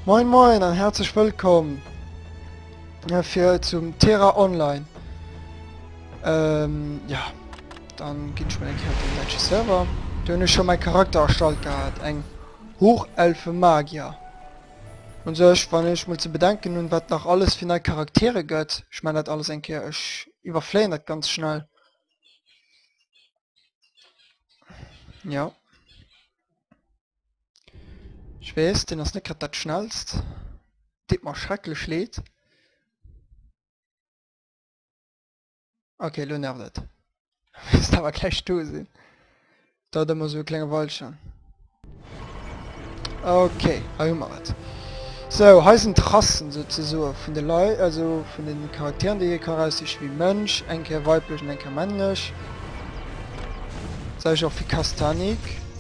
Moin moin an herzlech wëllkomm äh, fir zum Terra Online. Ähm, ja, dann ginn ech mal eng Kéier op den Match Server. Du hunn ech schon mein Charakter erstallt gehabt, eng Hochelfe Magier. Und sech wann ech mol ze bedenken hun wat nach alles fir nei Charaktere gëtt, ich mein dat alles eng Keer ech iwwerfléien dat ganz schnell. Ja. Ech weess, deen ass net grad dat schnellst. Deet mer schrecklech leed. Ok, elo nervt et. Misst awer gläich do sinn. Dauert ëmmer esou e klenge Weilchen. Ok, hei hu mer et. Sou, hei sinn d'Rassen souzesoe vun de Lei, also vun de Charakteren, déi ee ka eraussichen, wéi Mönch, eng Kéier weiblech an eng Kéier männlech. Selwecht och fir Kastanik.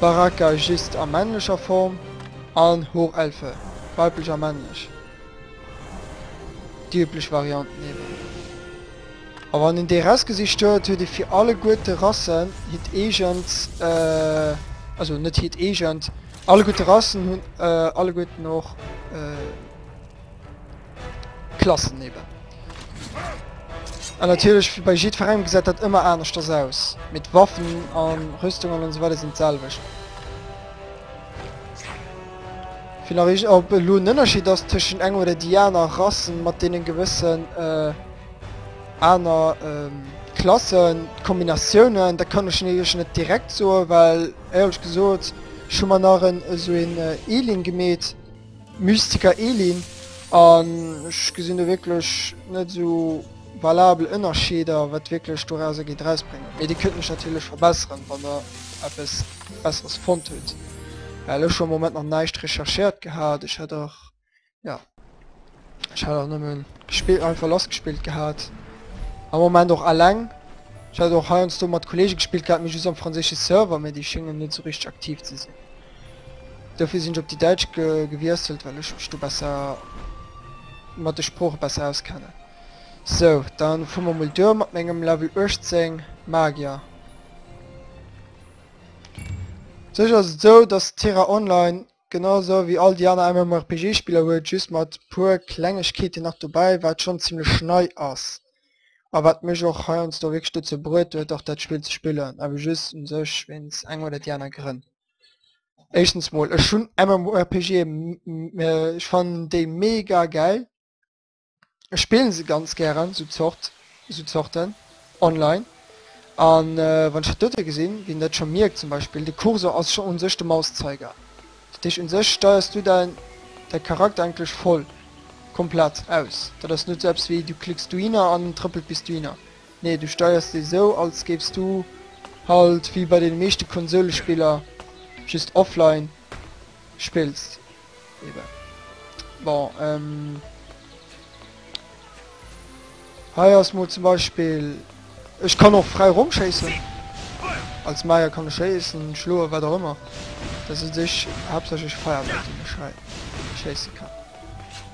Baraka just a männlecher Form an Hochelfe, weiblech a männlech, déi üblech Varianten eben. A wann een dee Rest gesicht huet, huet ee fir alleguerte Rassen hiert eegent, also net hiert eegent, alleguerte Rassen hunn alleguerten och. Klassen eben. An natierlech, wéi bei jiddferengem, gesäit dat ëmmer aneschters aus, mee d'Waffen a Rüstungen an esou weider sinn d'selwecht. Wéi nach ech op elo en Ënnerscheed ass tëschent enger oder déi aner Rassen mat deenen gewëssen aner Klassen, Kombinatiounen, dat kann ech iech net direkt soen, well éierlech gesot ech hu mer nach en esou een Eeling gemeet, Mystiker Elin, An ech gesinn do wierklech net esou valabel Ënnerscheeder, wat wierklech dorauser geet erausbréngen. Mee Dir kënnt mech natierlech verbesseren, wann Der eppes Besseres fonnt hutt, well ech hu am Moment nach näischt recherchéiert gehat. Ech hätt och, jo. Ech hat och nëmmen gespillt, einfach lass gespillt gehat. Am Moment och alleng. Ech hat och heiansdo mat Kollege gespillt gehat, mir just am franséische Server, mee déi schéngen net sou richteg aktiv ze sinn. Dofir sinn ech op déi däitsch ge gewiesselt, well ech mech do besser mat de Sprooche besser auskennen. Sou, dann fu mer mol duer mat mengem Level 18 Magier. Sécher ass et sou, dass Tera Online Genau sou wéi all déi aner MMORPG Spiller huet et just mat puer Klengegkeeten nach dobäi wat schonn zimlech nei ass a wat mech och heiansdo wierklech dozou bruet huet och dat Spill ze spillen, awer just u sech wéinst enger oder déi aner Grënn. Éischtens mol ech hunn MMORPGe ech fannen déi mega gäil. Ech spillen se ganz gären sou Zort sou Zorten online an wann ech dat dote gesinn wéi en dat scho mierkt zum Beispill de Cursor ass scho un sech de Mauszeiger dat heescht un sech steiers du däin däi Charakter eigentlech voll komplett aus dat ass net sou eppes wéi du klicks dohinner an en trëppelt bis dohinner nee du steiers dee sou als géifs du halt wéi bei deene meeschte Konsoulespiller just offline spillst. Eben. Bon, ähm... Hei ass mol zum Beispiel... Ech kann och frei rumschéissen. Als Meier kann ech schéissen, schloen, wat och ëmmer. Das ist sich hauptsächlich Feuerbälle, die ich halt schießen kann.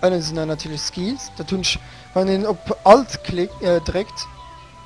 Innen sind dann natürlich Skills. Da tun ich, wenn den op Alt klick, äh, drückt,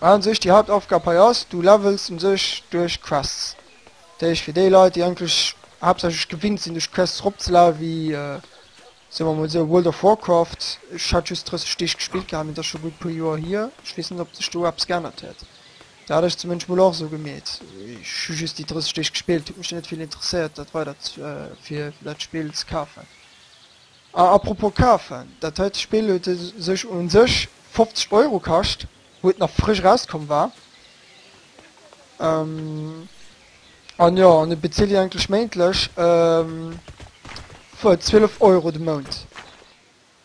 An sech déi Hauptaufgab hei ass, du levels un sech duerch Quests. Dat heescht fir déi Leit déi eigentlech haaptsächlech gewinnt sinn duerch Quests erop ze levelen, wéi soe mer mol sou World of Warcraft, ech hat just 30 Deeg gespillt gehat, mee dat ass scho gutt e puer Joer hier, ech weess net ob sech do eppes geännert huet, dat hat ech zumindest mol och esou gemeet, ech hu just déi 30 Deeg gespillt, huet mech dann net vill interesséiert dat weider fir dat Spill ze kafen. A apropos kafen, dat heite Spill huet u sech u sech 50 Euro kascht, wou et nach frësch erauskomm war. An jo, an et bezilt een eigentlech méintlech wuel 12 Euro de Mount,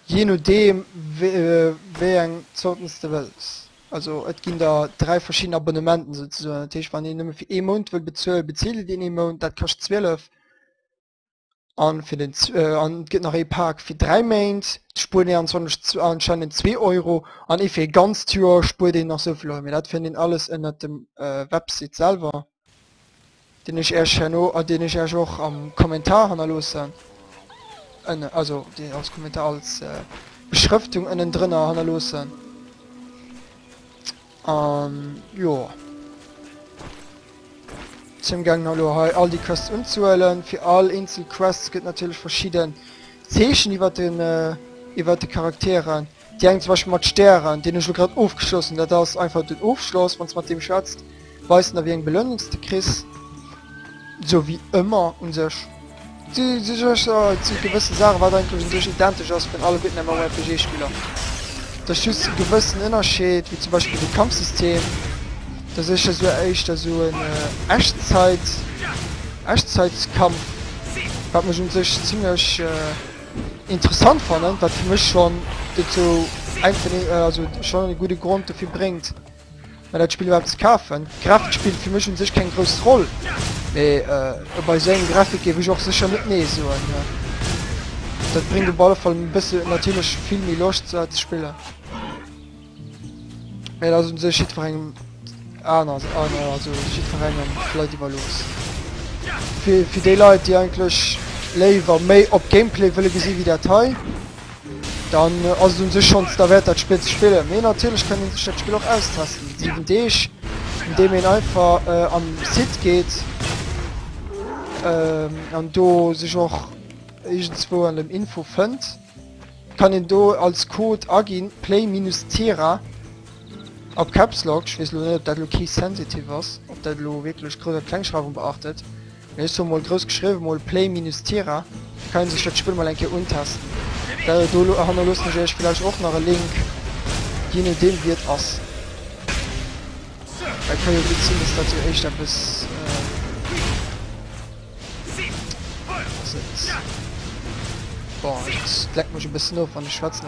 jee nodeem wéi eng Zorten s de wëlls. Also et ginn der dräi verschidden Abonnementen souzesoen, dat heescht wann een nëmme fir ee Mount wëll bezuelen, bezilt een ee Mount, dat kascht 12. An fir den an et gëtt nach ee Pack fir 3 Méint, do spuert een anscheinend anscheinend 2 Euro an ee fir ee ganzt Joer spuert een nach esou vill Euro. Mee dat fënnt een alles ënnert dem Website selwer, deen ech iech herno a deen ech iech och am Kommentar hannerloossen, ënne also deen als Kommentar als Beschrëftung ënnendrënner hannerloossen. An jo, sinn amgaangen elo hei all déi Quests unzehuelen. Fir all eenzel Quest gëtt natierlech verschidden Zeechen iwwer den iwwer de Charakteren. Déi eng zum Beispill mat Stären, deen hu ech elo grad ofgeschloss hunn. Dat ass einfach den Ofschloss, wann s de mat deem schwätzt, weist en der wéi eng Belounungs de kriss. Sou wéi ëmmer u sech. Déi sech éischter, et si gewëssen Saachen, wat eigentlech un sech identesch ass vun alleguerten MMORPG-Spiller. Et ass just e gewëssen Ënnerscheed, wéi zum Beispill de Kampfsystem, dass ech da sou éischter sou en Echtzeit, Echtzeitskampf, wat mech un sech zimlech interessant fannen, wat fir mech schonn dozou eng vun den, also schonn e gudde Grond dofir bréngt, Mä dat Spill iwwerhaapt ze kafen. D'Grafik spillt fir mech un sech keng grouss Roll. Mee äh, bei esou engem Grafik géif ech och sécher net Nee soen. Mä dat bréngt op alle Fall e bësse natierlech vill méi Loscht ze ze spillen. Mä dat ass un sech jiddwerengem aner, aner also jiddwerengem vläit iwwerlooss. Fir, fir déi Leit, déi eigentlech léiwer méi op Gameplay wëlle gesi wéi dat hei, Dann ass et un sech schonns derwäert dat Spill ze spillen. Mee natierlech kann een sech dat Spill och austesten, 7 Deeg, andeem een einfach äh, am Site geet ähm, an do sech och iergendzwou an dem Info fënnt, kann een do als Code aginn, Play minus Tira a Caps Lock, ech weess elo net ob dat elo Case Sensitive ass, ob dat elo wierklech Grouss a Klengschreiwung beachtet. Mee ech hu mol grouss geschriwwen, mol Play minus Tira, da kann een sech dat Spill mol eng Kéier untesten. Däer do hannerloossen ech iech villäicht och nach e Link, jee nodeem wéi et ass. Et ka jo gutt sinn, dass dat jo éischt eppes ass. Et lenkt mech e bëssen of, wann ech schwätzen.